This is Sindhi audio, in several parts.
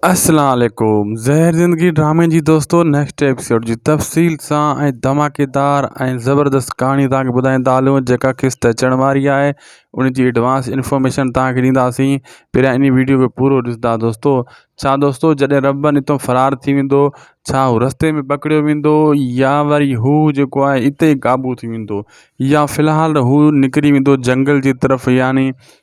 اسلام عليڪم زهر زندگي ڊرامي جي دوستو نيڪسٽ ايپيسوڊ جي تفصيل سان ۽ ڌماڪيدار ۽ زبردست ڪهاڻي توهان کي ٻڌائيندا هلون جيڪا قسط اچڻ واري آهي ان جي ايڊوانس انفارميشن توهان کي ڏينداسين پهريان انهي ويڊيو کي پورو ڏسندا دوستو ڇا دوستو جڏهن ربن اتو فرار ٿي ويندو ڇا هو رستي ۾ پڪڙيو ويندو يا وري هو جيڪو آهي اتي قابو ٿي ويندو يا في الحال هو نڪري ويندو جنگل جي طرف يعني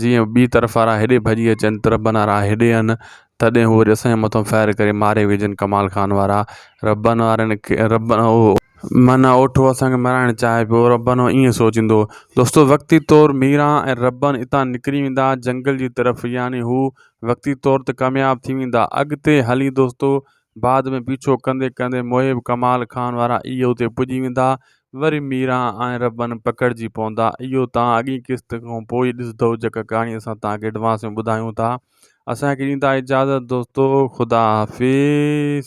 جيئن ٻي طرف وارا هيڏي ڀڄي اچن طرف بنان وارا هيڏي ايئن تڏهن هو وري اسان جي مٿان فائر ڪري ماري وجهن ڪمال خان وارا ربن وارن کي رب معنيٰ اوٺو اسان کي مرائڻ چاهي پيو ربن ايئن سوچيندو هو دوستو وقتي طور ميرا ۽ ربن اتان نڪري ويندا جنگل جي طرف يعني هو وقتي طور ته ڪامياب ٿي ويندا اڳتي هلي دوستو بعد ۾ پيڇو ڪندي ڪندي محب ڪمال خان وارا اي اتي پڄي ويندا وري ميران ۽ ربن پڪڙجي پوندا اهو توهان اڳين قسط کان پوء ئي ڏسدئو جيڪا ڪهاڻي اسان توهان کي ايڊوانس ۾ ٻڌايون ٿا اسان کي ڏيندا اجازت دوستو خدا حافظ.